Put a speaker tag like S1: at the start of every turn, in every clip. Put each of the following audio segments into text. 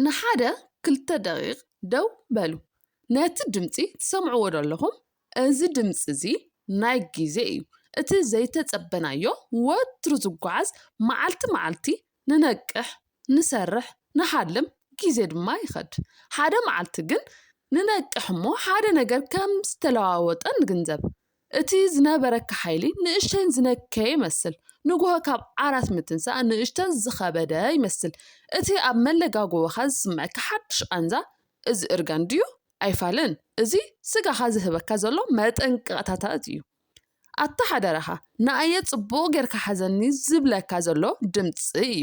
S1: ንሓደ ክልተ ደቒቕ ደው በሉ። ነቲ ድምጺ ትሰምዕዎዶ ኣለኹም? እዚ ድምጺ እዚ ናይ ግዜ እዩ፣ እቲ ዘይተጸበናዮ ወትሩ ዝጓዓዝ። መዓልቲ መዓልቲ ንነቅሕ፣ ንሰርሕ፣ ንሓልም፣ ግዜ ድማ ይኸድ። ሓደ መዓልቲ ግን ንነቅሕ እሞ ሓደ ነገር ከም ዝተለዋወጠ ንግንዘብ። እቲ ዝነበረኪ ሓይሊ ንእሽተይን ዝነከየ ይመስል፣ ንግሆ ካብ ዓራት ምትንሳእ ንእሽተን ዝኸበደ ይመስል፣ እቲ ኣብ መለጋጎበኻ ዝስመዐካ ሓድሽ ቓንዛ እዚ እርጋን ድዩ? ኣይፋልን፣ እዚ ስጋኻ ዝህበካ ዘሎ መጠንቀቕታታት እዩ። ኣታ ሓደራኻ ንኣየ ጽቡቕ ጌርካ ሓዘኒ ዝብለካ ዘሎ ድምጺ እዩ።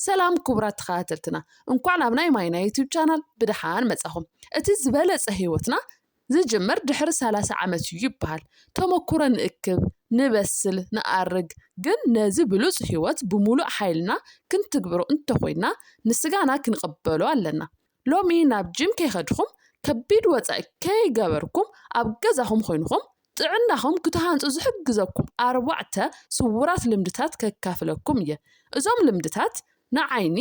S1: ሰላም ክቡራት ተኸታተልትና፣ እንኳዕ ናብ ናይ ማይና ዩቱብ ቻናል ብደሓን መጻኹም። እቲ ዝበለጸ ህይወትና ዝጅምር ድሕሪ ሰላሳ ዓመት እዩ ይበሃል። ተመኩሮ ንእክብ፣ ንበስል፣ ንኣርግ፣ ግን ነዚ ብሉጽ ሕይወት ብምሉእ ሓይልና ክንትግብሮ እንተኾይንና ንስጋና ክንቕበሎ ኣለና። ሎሚ ናብ ጂም ከይኸድኹም፣ ከቢድ ወጻኢ ከይገበርኩም ኣብ ገዛኹም ኾይንኹም ጥዕናኹም ክትሃንጹ ዝሕግዘኩም ኣርባዕተ ስውራት ልምድታት ከካፍለኩም እየ። እዞም ልምድታት ንዓይኒ፣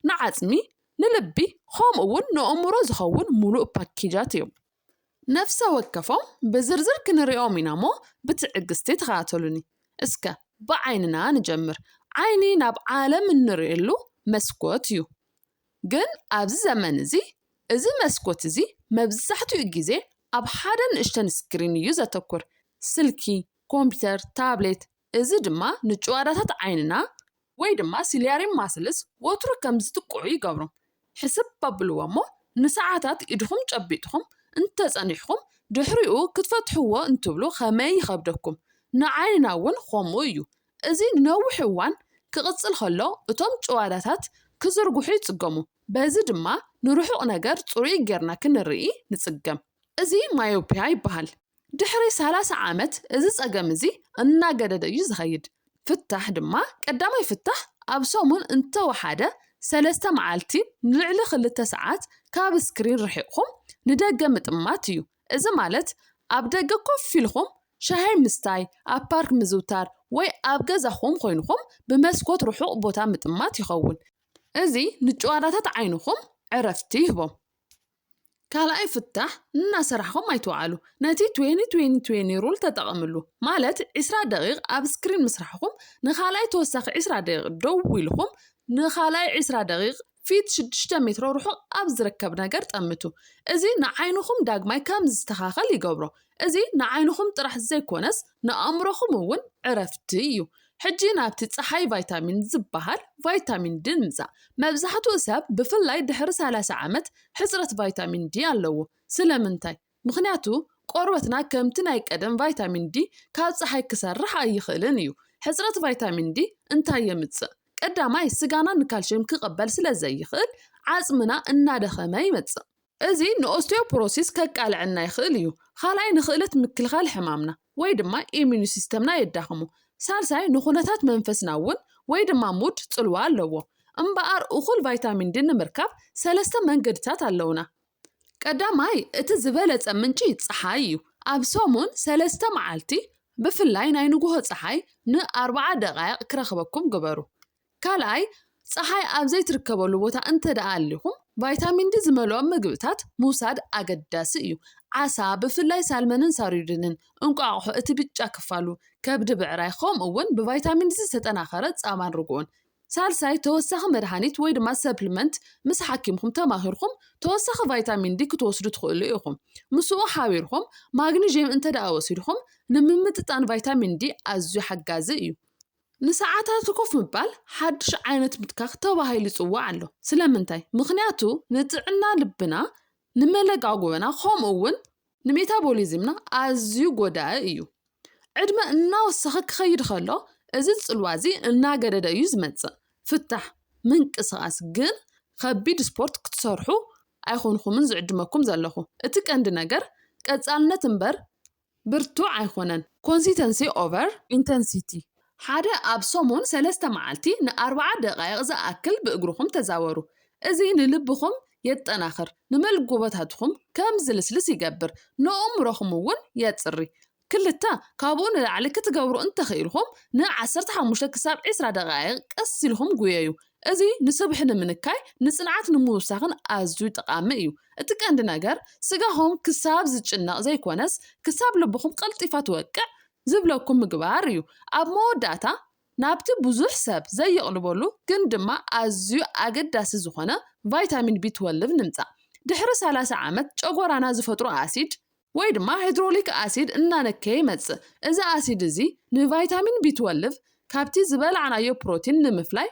S1: ንዓጽሚ፣ ንልቢ ኸምኡውን ንእእምሮ ዝኸውን ሙሉእ ፓኬጃት እዮም። ነፍሰ ወከፎም ብዝርዝር ክንሪኦም ኢና እሞ ብትዕግስቲ ተኸታተሉኒ። እስከ ብዓይንና ንጀምር። ዓይኒ ናብ ዓለም እንርእየሉ መስኮት እዩ። ግን ኣብዚ ዘመን እዚ እዚ መስኮት እዚ መብዛሕትኡ ግዜ ኣብ ሓደ ንእሽተን ስክሪን እዩ ዘተኩር፣ ስልኪ፣ ኮምፒተር፣ ታብሌት፣ እዚ ድማ ንጭዋዳታት ዓይንና ወይ ድማ ሲልያሪ ማስልስ ወትሩ ከም ዝጥቅዑ ይገብሮም። ሕስብ ኣብልዎ እሞ ንሰዓታት ኢድኹም ጨቢጥኩም እንተ ጸኒሕኩም ድሕሪኡ ክትፈትሕዎ እንትብሉ ከመይ ይኸብደኩም። ንዓይንና እውን ኸምኡ እዩ። እዚ ንነዊሕ እዋን ክቕጽል ከሎ እቶም ጭዋዳታት ክዝርግሑ ይጽገሙ በዚ ድማ ንርሑቕ ነገር ጽሩይ ጌርና ክንርኢ ንጽገም። እዚ ማዮፕያ ይበሃል። ድሕሪ ሰላሳ ዓመት እዚ ጸገም እዚ እናገደደ እዩ ዝኸይድ። ፍታሕ ድማ ቀዳማይ ፍታሕ ኣብ ሰሙን እንተወሓደ ሰለስተ መዓልቲ ንልዕሊ ክልተ ሰዓት ካብ ስክሪን ርሒቕኩም ንደገ ምጥማት እዩ። እዚ ማለት ኣብ ደገ ኮፍ ኢልኩም ሻሂ ምስታይ፣ ኣብ ፓርክ ምዝውታር ወይ ኣብ ገዛኹም ኮይንኩም ብመስኮት ርሑቕ ቦታ ምጥማት ይኸውን። እዚ ንጭዋዳታት ዓይንኹም ዕረፍቲ ይህቦም። ካልኣይ ፍታሕ እናሰራሕኹም ኣይትውዓሉ። ነቲ ትዌኒ ትዌኒ ትዌኒ ሩል ተጠቐምሉ። ማለት ዕስራ ደቒቕ ኣብ ስክሪን ምስራሕኹም ንኻልኣይ ተወሳኺ ዕስራ ደቒቕ ደው ኢልኹም ንኻልኣይ ዕስራ ደቒቕ ፊት ሽዱሽተ ሜትሮ ርሑቕ ኣብ ዝርከብ ነገር ጠምቱ። እዚ ንዓይንኹም ዳግማይ ከም ዝስተኻኸል ይገብሮ። እዚ ንዓይንኹም ጥራሕ ዘይኮነስ ንኣእምሮኹም እውን ዕረፍቲ እዩ። ሕጂ ናብቲ ጸሓይ ቫይታሚን ዝበሃል ቫይታሚን ዲ ንምጻእ። መብዛሕትኡ ሰብ ብፍላይ ድሕሪ ሰላሳ ዓመት ሕጽረት ቫይታሚን ዲ ኣለዎ። ስለምንታይ? ምኽንያቱ ቆርበትና ከምቲ ናይ ቀደም ቫይታሚን ዲ ካብ ጸሓይ ክሰርሕ ኣይኽእልን እዩ። ሕጽረት ቫይታሚን ዲ እንታይ የምጽእ? ቀዳማይ ስጋና ንካልሽየም ክቕበል ስለዘይኽእል ዓጽምና እናደኸመ ይመጽእ። እዚ ንኦስቲዮፖሮሲስ ከቃልዐና ይኽእል እዩ። ኻልኣይ ንኽእለት ምክልኻል ሕማምና ወይ ድማ ኢሚኑ ሲስተምና የዳኽሞ። ሳልሳይ ንኹነታት መንፈስና እውን ወይ ድማ ሙድ ፅልዋ ኣለዎ። እምበኣር እኹል ቫይታሚን ዲ ንምርካብ ሰለስተ መንገድታት ኣለውና። ቀዳማይ እቲ ዝበለፀ ምንጪ ፀሓይ እዩ። ኣብ ሰሙን ሰለስተ መዓልቲ ብፍላይ ናይ ንጉሆ ፀሓይ ን ኣርባዓ ደቓይቕ ክረኽበኩም ግበሩ። ካልኣይ፣ ጸሓይ ኣብ ዘይትርከበሉ ቦታ እንተድኣ ኣሊኹም፣ ቫይታሚን ዲ ዝመልኦም መግብታት ምውሳድ ኣገዳሲ እዩ። ዓሳ፣ ብፍላይ ሳልመንን ሳርዲንን፣ እንቋቑሖ፣ እቲ ብጫ ክፋሉ፣ ከብዲ ብዕራይ፣ ከምኡ'ውን ብቫይታሚን ዲ ዝተጠናኸረ ጻባን ርግኦን። ሳልሳይ፣ ተወሳኺ መድሃኒት ወይ ድማ ሰፕሊመንት ምስ ሓኪምኩም ተማኺርኩም ተወሳኺ ቫይታሚን ዲ ክትወስዱ ትኽእሉ ኢኹም። ምስኡ ሓቢርኩም ማግኒዥየም እንተድኣ ወሲድኩም፣ ንምምጥጣን ቫይታሚን ዲ ኣዝዩ ሓጋዚ እዩ። ንሰዓታት ኮፍ ምባል ሓድሽ ዓይነት ምትካኽ ተባሂሉ ይጽዋዕ ኣሎ። ስለምንታይ? ምኽንያቱ ንጥዕና ልብና፣ ንመለጓጎበና ከምኡ'ውን ንሜታቦሊዝምና ኣዝዩ ጎዳኢ እዩ። ዕድመ እናወሰኸ ክኸይድ ከሎ እዚ ጽልዋ እዚ እናገደደ እዩ ዝመጽእ። ፍታሕ፣ ምንቅስቓስ፣ ግን ከቢድ ስፖርት ክትሰርሑ ኣይኮንኩምን ዝዕድመኩም ዘለኹ። እቲ ቀንዲ ነገር ቀጻልነት እምበር ብርቱዕ ኣይኮነን፣ Consistency over Intensity፣ ሓደ ኣብ ሰሙን ሰለስተ መዓልቲ ንኣርብዓ ደቓይቕ ዝኣክል ብእግርኹም ተዛወሩ። እዚ ንልብኹም የጠናኽር፣ ንመልጎቦታትኹም ከም ዝልስልስ ይገብር፣ ንእእምሮኹም እውን የጽሪ። ክልተ ካብኡ ንላዕሊ ክትገብሩ እንተኽኢልኩም፣ ን ዓሰርተ ሓሙሽተ ክሳብ ዕስራ ደቓይቕ ቀስ ኢልኩም ጉየዩ፣ እዚ ንስብሒ ንምንካይ ንጽንዓት ንምውሳኽን ኣዝዩ ጠቓሚ እዩ። እቲ ቀንዲ ነገር ስጋኹም ክሳብ ዝጭነቕ ዘይኮነስ ክሳብ ልብኹም ቀልጢፋ ትወቅዕ ዝብለኩም ምግባር እዩ። ኣብ መወዳእታ ናብቲ ብዙሕ ሰብ ዘይቕልበሉ ግን ድማ ኣዝዩ ኣገዳሲ ዝኾነ ቫይታሚን ቢ-ትወልቭ ንምጻእ። ድሕሪ ሰላሳ ዓመት ጨጎራና ዝፈጥሮ ኣሲድ፣ ወይ ድማ ሃይድሮሊክ ኣሲድ እናነከየ ይመጽእ። እዚ ኣሲድ እዚ ንቫይታሚን ቢትወልቭ ካብቲ ዝበላዕናዮ ፕሮቲን ንምፍላይ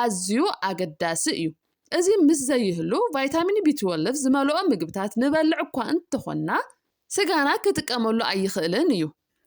S1: ኣዝዩ ኣገዳሲ እዩ። እዚ ምስ ዘይህሉ ቫይታሚን ቢትወልቭ ዝመልኦ ምግብታት ንበልዕ እኳ እንተኾንና ስጋና ክጥቀመሉ ኣይኽእልን እዩ።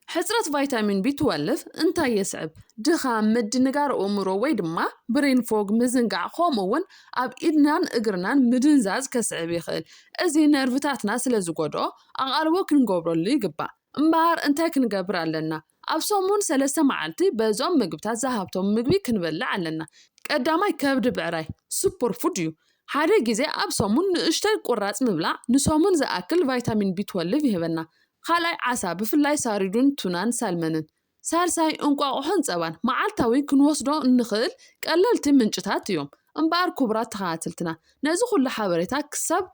S1: ሕጽረት ቫይታሚን ቢ ትወልቭ እንታይ የስዕብ? ድኻም፣ ምድንጋር ኣእምሮ ወይ ድማ ብሬን ፎግ፣ ምዝንጋዕ፣ ከምኡውን ኣብ ኢድናን እግርናን ምድንዛዝ ከስዕብ ይኽእል። እዚ ነርቭታትና ስለ ዝጎድኦ ኣቓልቦ ክንገብረሉ ይግባእ። እምበኣር እንታይ ክንገብር ኣለና? ኣብ ሰሙን ሰለስተ መዓልቲ በዞም ምግብታት ዝሃብቶም ምግቢ ክንበልዕ ኣለና። ቀዳማይ ከብዲ ብዕራይ፣ ሱፐርፉድ፣ እዩ። ሓደ ግዜ ኣብ ሰሙን ንእሽቶይ ቁራጽ ምብላዕ ንሰሙን ዝኣክል ቫይታሚን ቢ ትወልቭ ይህበና። ካልኣይ ዓሳ ብፍላይ ሳሪዱን ቱናን ሳልመንን። ሳልሳይ እንቋቑሖን ጸባን መዓልታዊ ክንወስዶ እንኽእል ቀለልቲ ምንጭታት እዮም። እምበኣር ኩቡራት ተኸታተልትና ነዚ ኩሉ ሓበሬታ ክሳብ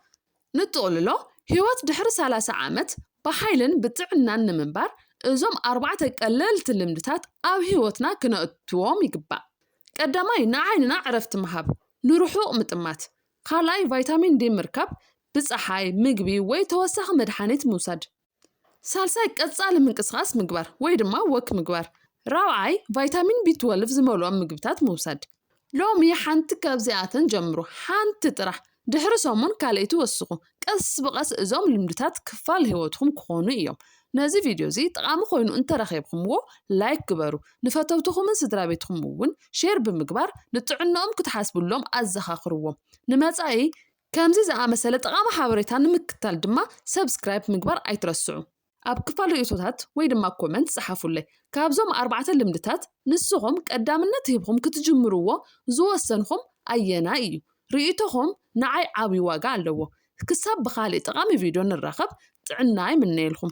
S1: ንጥቕልሎ ህይወት ድሕሪ ሰላሳ ዓመት ብሓይልን ብጥዕናን ንምንባር እዞም ኣርባዕተ ቀለልቲ ልምድታት ኣብ ህይወትና ክነእትዎም ይግባእ። ቀዳማይ ንዓይንና ዕረፍቲ ምሃብ፣ ንርሑቕ ምጥማት። ካልኣይ ቫይታሚን ዲ ምርካብ፣ ብጸሓይ፣ ምግቢ ወይ ተወሳኺ መድሓኒት ምውሳድ። ሳልሳይ ቀጻሊ ምንቅስቓስ ምግባር ወይ ድማ ወክ ምግባር። ራብዓይ ቫይታሚን ቢ ትወልቭ ዝመልኦም ምግብታት ምውሳድ። ሎሚ ሓንቲ ካብዚኣተን ጀምሩ፣ ሓንቲ ጥራሕ። ድሕሪ ሰሙን ካልኣይቲ ወስኹ። ቀስ ብቐስ እዞም ልምድታት ክፋል ህይወትኩም ክኾኑ እዮም። ነዚ ቪድዮ እዚ ጠቓሚ ኮይኑ እንተረኺብኹምዎ ላይክ ግበሩ። ንፈተውትኹምን ስድራቤትኩም እውን ሼር ብምግባር ንጥዕንኦም ክትሓስብሎም ኣዘኻኽርዎም። ንመጻኢ ከምዚ ዝኣመሰለ ጠቓሚ ሓበሬታ ንምክትታል ድማ ሰብስክራይብ ምግባር ኣይትረስዑ። ኣብ ክፋል ርእይቶታት ወይ ድማ ኮመንት ጸሓፉለይ። ካብዞም ኣርባዕተ ልምድታት ንስኹም ቀዳምነት ሂብኹም ክትጅምርዎ ዝወሰንኹም ኣየናይ እዩ? ርእይቶኹም ንዓይ ዓቢ ዋጋ ኣለዎ። ክሳብ ብኻልእ ጠቓሚ ቪድዮ ንራኸብ ጥዕና ይምነየልኩም።